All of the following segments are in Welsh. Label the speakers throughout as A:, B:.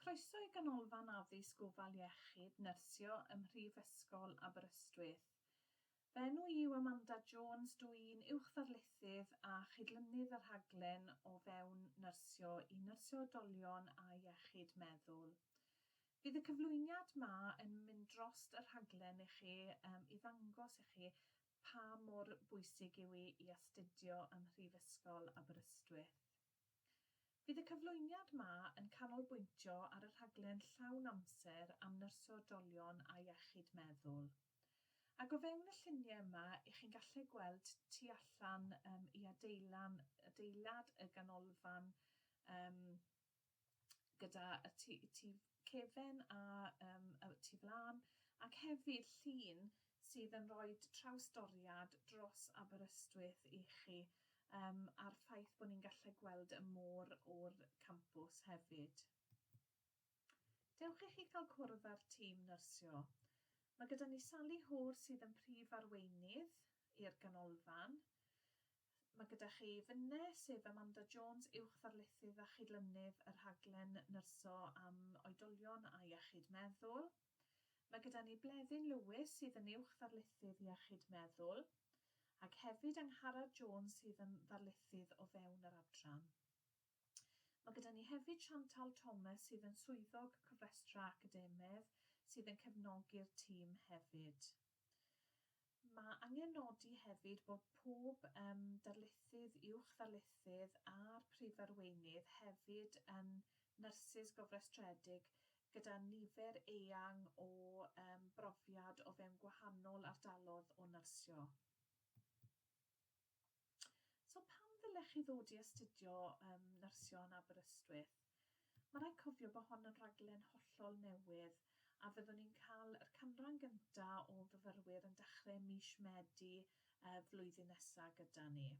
A: Croeso i Ganolfan Addysg Gofal Iechyd Nyrsio ym Mhrifysgol Aberystwyth. Fy enw i yw Amanda Jones, dw i'n Uwch-ddarlithydd a Chydlynydd y Rhaglen o fewn Nyrsio i Nyrsio Oedolion a Iechyd Meddwl. Fydd y cyflwyniad 'ma yn mynd drost y rhaglen i chi yym i ddangos i chi pa mor bwysig yw hi i astudio ym Mhrifysgol Aberystwyth. Fydd y cyflwyniad 'ma yn canolbwyntio ar y rhaglen llawn amser am nyrsio oedolion a iechyd meddwl. Ac o fewn y llunie yma, y'ch chi'n gallu gweld tu allan yym i adeilan- adeilad y ganolfan yym gyda y tu tu cefn a yym y tu flan ac hefyd llun sydd yn rhoi trawsdoriad dros Aberystwyth i chi yym a'r ffaith bod ni'n gallu gweld y môr o'r campws hefyd. Dewch i chi cael cwrdd â'r tîm nyrsio. Mae gyda ni Sally Hoare sydd yn prif arweinydd i'r ganolfan. Mae gyda chi finne, sef Amanda Jones, Uwch Ddarlithydd a Chydlynydd y Rhaglen Nyrsio am Oedolion a Iechyd Meddwl. Mae gyda ni Bleddyn Lewis sydd yn Uwch Ddarlithydd Iechyd Meddwl, ac hefyd Angharad Jones sydd yn Ddarlithydd o fewn yr Adran. Mae gyda ni hefyd Chantal Thomas sydd yn Swyddog Cofrestrau Academaidd sydd yn cefnogi'r tîm hefyd. Mae angen nodi hefyd bod pob yym darlithydd, uwch ddarlithydd a'r Prif Arweinydd hefyd yn nyrsys gofrestredig gyda nifer eang o yym brofiad o fewn gwahanol ardalodd o nyrsio. So pam ddylech chi ddod i astudio um, nyrsio yn Aberystwyth? Mae rhaid cofio bod hon yn raglen hollol newydd a fyddwn ni'n cael yr canran gyntaf o fyfyrwyr yn dechrau mis Medi uh, flwyddyn nesaf gyda ni.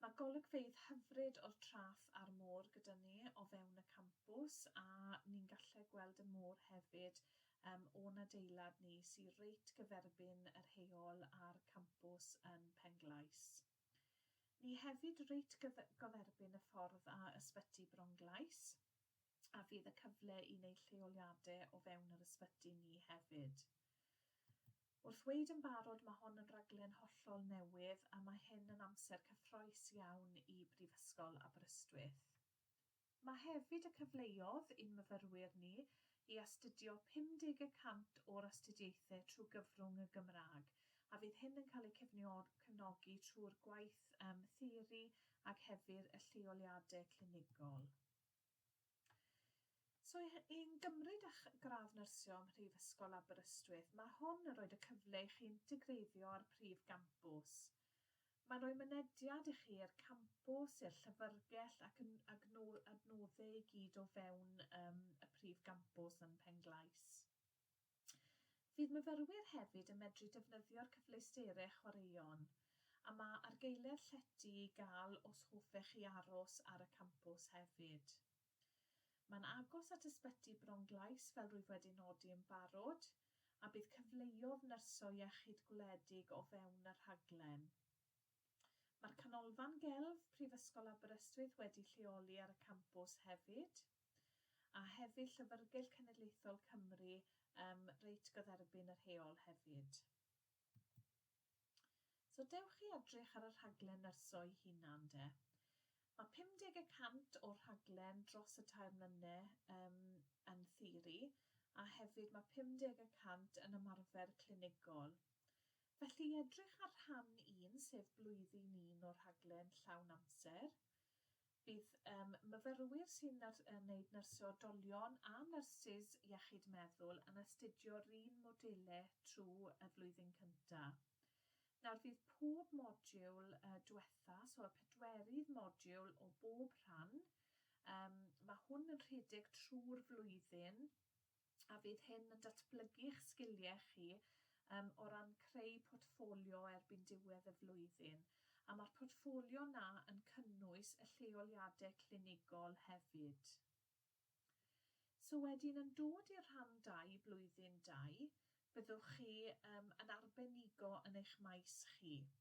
A: Mae golygfeydd hyfryd o'r traff a'r môr gyda ni o fewn y campws a ni'n gallu gweld y môr hefyd yym o'n adeilad ni sy reit gyferbyn yr heol a'r campws yn Penglais. Ni hefyd reit gyf- goferbyn y ffordd a Ysbyty Bronglais a fydd y cyfle i neud lleoliade o fewn yr ysbyty ni hefyd. Wrth weud yn barod ma' hon yn raglen hollol newydd a ma' hyn yn amser cyffroes iawn i Brifysgol Aberystwyth. Mae hefyd y cyfleodd i'n myfyrwyr ni i astudio 50 y cant o'r astudiaethau trwy gyfrwng y Gymraeg, a fydd hyn yn cael eu cefnogi trwy'r gwaith yym theori ac hefyr y lleoliadau clinigol. So i i'n gymryd â'ch gradd nyrsio ym Mhrifysgol Aberystwyth, mae hwn yn rhoid y cyfle i chi integreiddio â'r prif gampws. Mae'n rhoi mynediad i chi i'r campws, i'r llyfrgell ac yn adnodde i gyd o fewn ym y prif gampws yn Pen-glais. Fydd myfyrwyr hefyd yn medru defnyddio'r cyfleusterau chwaraeon a mae argaeledd llety i gael os hoffech chi aros ar y campws hefyd. Mae'n agos at Ysbyty Bronglais fel rwyf wedi nodi yn barod, a bydd cyfleodd nyrsio iechyd gwledig o fewn y rhaglen. Mae'r Canolfan Gelf Prifysgol Aberystwyth wedi lleoli ar y campws hefyd, a hefyd Llyfrgell Cenedlaethol Cymru ym Mreit Gyferbyn yr Heol hefyd. So dewch i edrych ar y rhaglen nyrsoi hunan de. Mae 50 y cant o'r rhaglen dros y tair mlyne um, yn theori, a hefyd mae 50 y cant yn ymarfer clinigol. Felly i edrych ar rhan un, sef blwyddyn un o'r rhaglen llawn amser, Bydd yym myfyrwyr sy'n nyr- yy wneud nyrsio oedolion a nyrsys iechyd meddwl yn astudio'r un module trw y flwyddyn cynta. Nawr fydd pob modiwl yy dwetha, so y pedwerydd modiwl o bob rhan, yym ma' hwn yn rhedeg trw'r flwyddyn, a fydd hyn yn datblygu'ch sgiliau chi yym o ran creu portffolio erbyn diwedd y flwyddyn, a ma'r portffolio 'na yn cynnwys y lleoliadau clinigol hefyd. So wedyn yn dod i'r rhan dau, blwyddyn dau, byddwch chi yym yn arbenigo yn eich maes chi.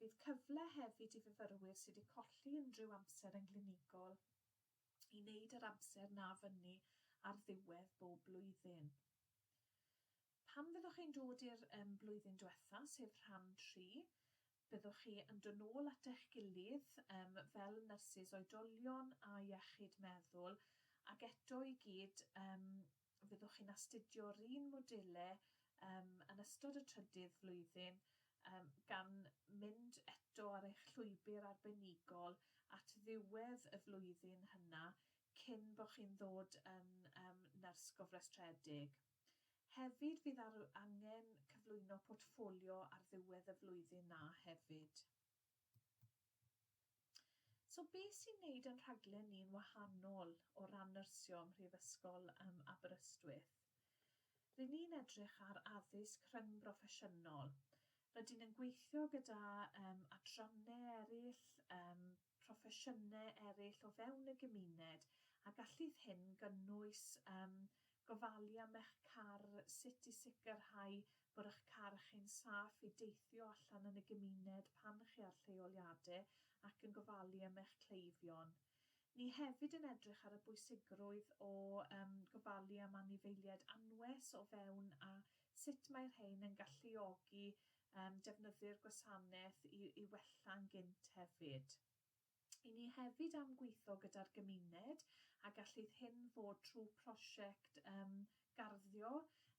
A: Bydd cyfle hefyd i fyfyrwyr sydd wedi colli unrhyw amser yn glinigol i wneud yr amser 'na fyny ar ddiwedd bob blwyddyn. Pan fyddwch chi'n dod i'r um, blwyddyn diwetha, sef rhan tri, byddwch chi yn dod nôl at eich gilydd um, fel nyrsys oedolion a iechyd meddwl ac eto i gyd um, fyddwch chi'n astudio'r un modelau um, yn ystod y trydydd flwyddyn um, gan mynd eto ar eich llwybr arbenigol at ddiwedd y flwyddyn hynna cyn bod chi'n ddod yn um, nyrs gofrestredig. Hefyd fydd ar angen cyflwyno portffolio ar ddiwedd y flwyddyn na hefyd. So beth sy'n neud yn rhaglen ni'n wahanol o ran nyrsio ym Mhrifysgol ym Aberystwyth? Ry'n ni'n edrych ar addysg rhyngbroffesiynol. Rydyn yn gweithio gyda um, adrannau eraill, um, proffesiynau eraill o fewn y gymuned a gallith hyn gynnwys um, Gofalu am eich car, Sut i sicrhau bod eich car chi'n saff i deithio allan yn y gymuned pan chi ar lleoliadau ac yn gofalu am eich cleifion. Ni hefyd yn edrych ar y bwysigrwydd o gofalu am anifeiliaid anwes o fewn a sut mae rhein yn galluogi defnyddwyr gwasanaeth i wella'n gynt hefyd. I ni hefyd am gweithio gyda'r gymuned a gallith hyn fod trwy prosiect yym garddio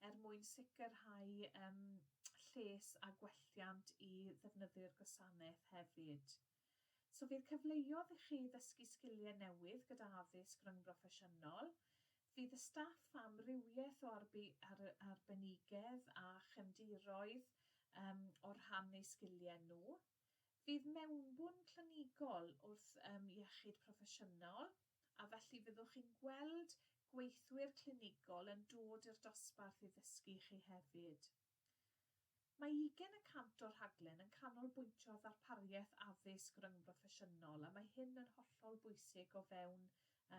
A: er mwyn sicrhau yym lles a gwelliant i ddefnyddwyr gwasanaeth hefyd. So fydd cyfleodd i chi ddysgu sgiliau newydd gyda addysg ryngbroffesiynol. Fydd y staff amrywiaeth o arbu ar arbenigedd a chefndiroedd yym o rhan eu sgiliau nhw. Fydd mewnbwn clinigol wrth ym iechyd proffesiynol, a felly fyddwch chi'n gweld gweithwyr clinigol yn dod i'r dosbarth i ddysgu i chi hefyd. Mae ugain y cant o'r rhaglen yn canolbwyntio ar ddarpariaeth addysg ryngbroffesiynol a mae hyn yn hollol bwysig o fewn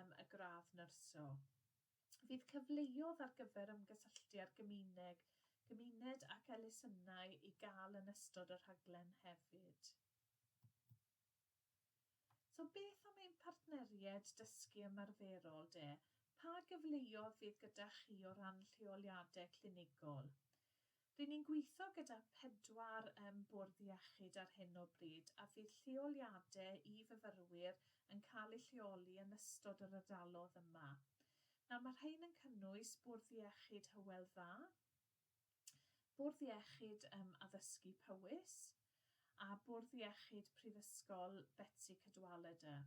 A: ym y gradd nyrsio. fydd cyfleodd ar gyfer ymgysylltu â'r gymuneg, gymuned ac elusennau i gael yn ystod y rhaglen hefyd. So beth am ein partneriaid dysgu ymarferol de? Pa gyfleodd fydd gyda chi o ran lleoliadau clinigol? Ry'n ni'n gweithio gyda phedwar ym Bwrdd Iechyd ar hyn o bryd a fydd lleoliadau i fyfyrwyr yn cael eu lleoli yn ystod yr ardalodd yma. Nawr, mae rhain yn cynnwys Bwrdd Iechyd Hywel Dda, Bwrdd Iechyd ym Addysgu Powys a Bwrdd Iechyd Prifysgol Betsi Cadwaladr.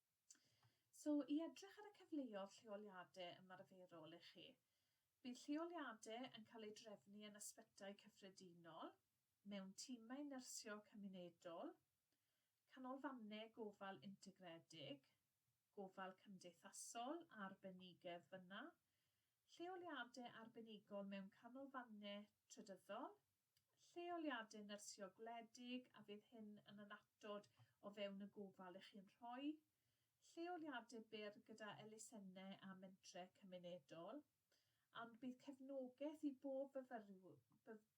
A: So, i edrych ar y cyfleodd lleoliadau ymarferol i chi. Bydd lleoliadau yn cael eu drefnu yn ysbytai cyffredinol, mewn timau nyrsio cymunedol, canolfannau gofal integredig, gofal cymdeithasol a arbenigedd fyna, lleoliadau arbenigol mewn canolfannau trydyddol, lleoliadau nyrsio gwledig a fydd hyn yn annatod o fewn y gofal i chi'n rhoi, lleoliadau byr gyda elusennau a mentrau cymunedol, ond bydd cefnogaeth i bob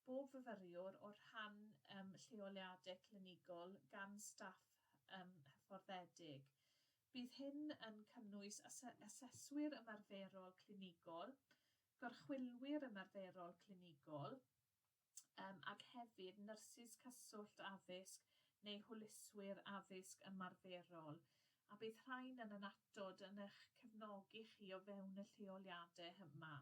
A: bob fyfyriwr o'r rhan ym lleoliadau clinigol gan staff ym hyfforddedig. Bydd hyn yn cynnwys aseswyr ymarferol clinigol, gorchwylwyr ymarferol clinigol, yym, ac hefyd nyrsys cyswllt addysg neu hwyluswyr addysg ymarferol, a bydd rhain yn annatod yn eich cefnogi chi o fewn y lleoliadau hyma.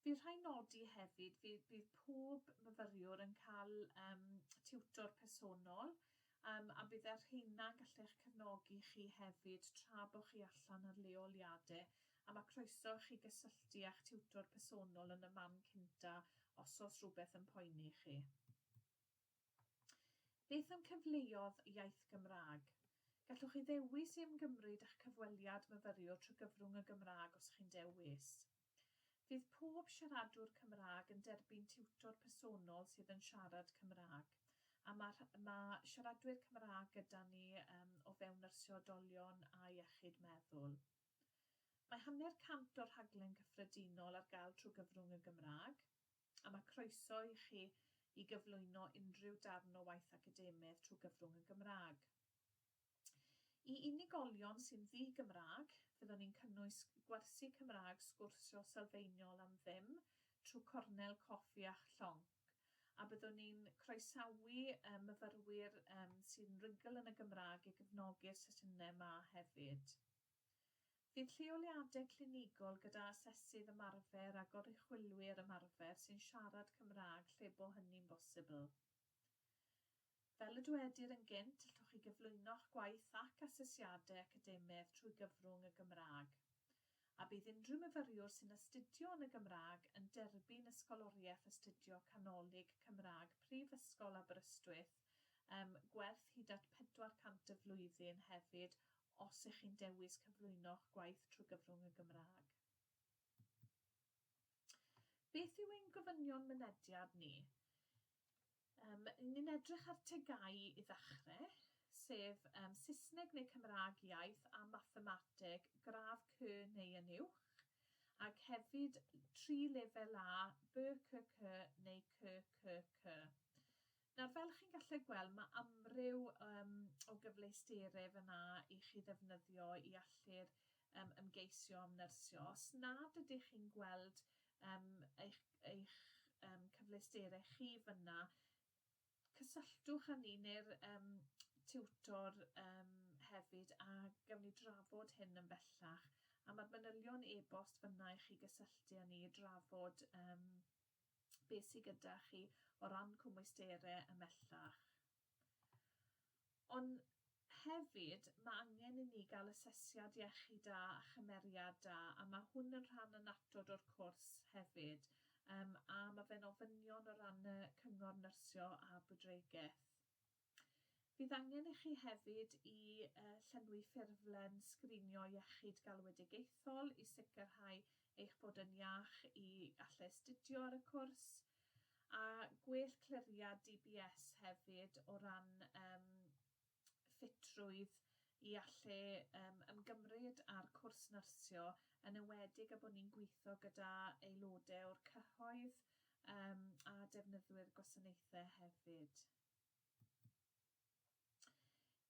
A: Fydd rhaid nodi hefyd fydd bydd pob myfyriwr yn cael, yym, tiwtor personol Yym, a bydde rheina'n gallu eich cefnogi chi hefyd tra bo chi allan ar leoliade, a ma' croeso i chi gysylltu â'ch tiwtor personol yn y man cynta os o's rhywbeth yn poeni chi. Beth am cyfleodd iaith Gymraeg? Gallwch chi ddewis i ymgymryd â'ch cyfweliad myfyriwr trwy gyfrwng y Gymraeg os chi'n dewis. Fydd pob siaradwr Cymraeg yn derbyn tiwtor personol sydd yn siarad Cymraeg, a mae rh- mae siaradwyr Cymraeg gyda ni yym o fewn nyrsio oedolion a iechyd meddwl. Mae hanner cant o'r rhaglen gyffredinol ar gael trwy gyfrwng y Gymraeg, a mae croeso i chi i gyflwyno unrhyw darn o waith academaidd trwy gyfrwng y Gymraeg. I unigolion sy'n ddi-Gymraeg, fyddwn ni'n cynnwys gwersi Cymraeg sgwrsio sylfaenol am ddim trwy cornel coffi a'ch llong, a byddwn ni'n croesawu myfyrwyr sy'n rhugl yn y Gymraeg i gefnogi'r sesiynau 'ma hefyd. Bydd lleoliadau clinigol gyda asesydd ymarfer a goruchwylwyr ymarfer sy'n siarad Cymraeg lle bo hynny'n bosibl. Fel y dwedir yn gynt, allwch chi gyflwyno'ch gwaith ac asesiadau academaidd trwy gyfrwng y Gymraeg, a bydd unrhyw myfyriwr sy'n astudio yn y Gymraeg yn derbyn Ysgoloriaeth Astudio Canolig Cymraeg Prifysgol Aberystwyth um, gwerth hyd at 400 y flwyddyn hefyd os ych chi'n dewis cyflwyno'ch gwaith trwy gyfrwng y Gymraeg. Beth yw ein gofynion mynediad ni? Yym, ni'n edrych ar tegau i ddechrau, sef um, Saesneg neu Cymraeg iaith a mathemateg gradd C neu yn uwch, ac hefyd tri lefel A, BCC neu CCC. Nawr, fel chi'n gallu gweld, mae amryw um, o gyfleusterau fyna i chi ddefnyddio i allu'r yym ymgeisio am nyrsio, os nad ydych chi'n gweld yym eich eich yym cyfleusterau chi fan'na, cysylltwch â ni neu'r yym tiwtor yym hefyd a gawn ni drafod hyn yn bellach, a ma'r manylion e-bost fan'na i chi gysylltu â ni i drafod yym be sy gyda chi o ran cwmwysterau ymhellach. Ond hefyd, mae angen i ni gael asesiad iechyd da a chymeriad da, a mae hwn yn rhan annatod o'r cwrs hefyd, yym a mae fe'n ofynion o ran y cyngor nyrsio a bwydregeth. Fydd angen i chi hefyd i yy llenwi ffurflen sgrinio iechyd galwedigaethol i sicrhau eich bod yn iach i allu astudio ar y cwrs. A gwell cliriad DBS hefyd o ran yym ffitrwydd i allu yym ymgymryd â'r cwrs nyrsio, yn enwedig a bod ni'n gwitho gyda aelode o'r cyhoedd yym a defnyddwyr gwasanaethe hefyd.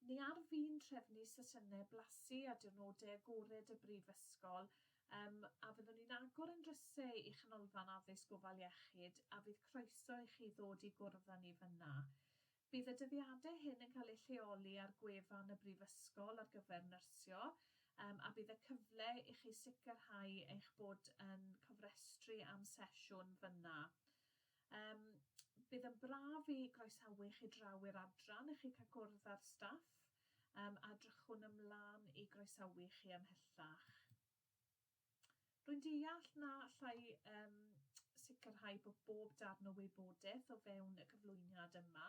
A: Ni all fi'n trefnu sesiynau blasu ar diwrnodau agored y Brifysgol, yym, a fyddwn ni'n agor ein drysau i Chanolfan Addysg Gofal Iechyd a fydd croeso i chi ddod i gwrdd â ni fan'na. Bydd y dyddiadau hyn yn cael eu lleoli ar gwefan y Brifysgol ar gyfer nyrsio, yym, a bydd y cyfle i chi sicrhau eich bod yn cofrestru am sesiwn fan'na. Yym bydd yn braf i groesawu chi draw i'r adran i chi cael cwrdd â'r staff yym a drychwn ymlan i groesawu chi ymhellach. Rwy'n deall na allai yym sicrhau bod bob darn o wybodaeth o fewn y cyflwyniad yma,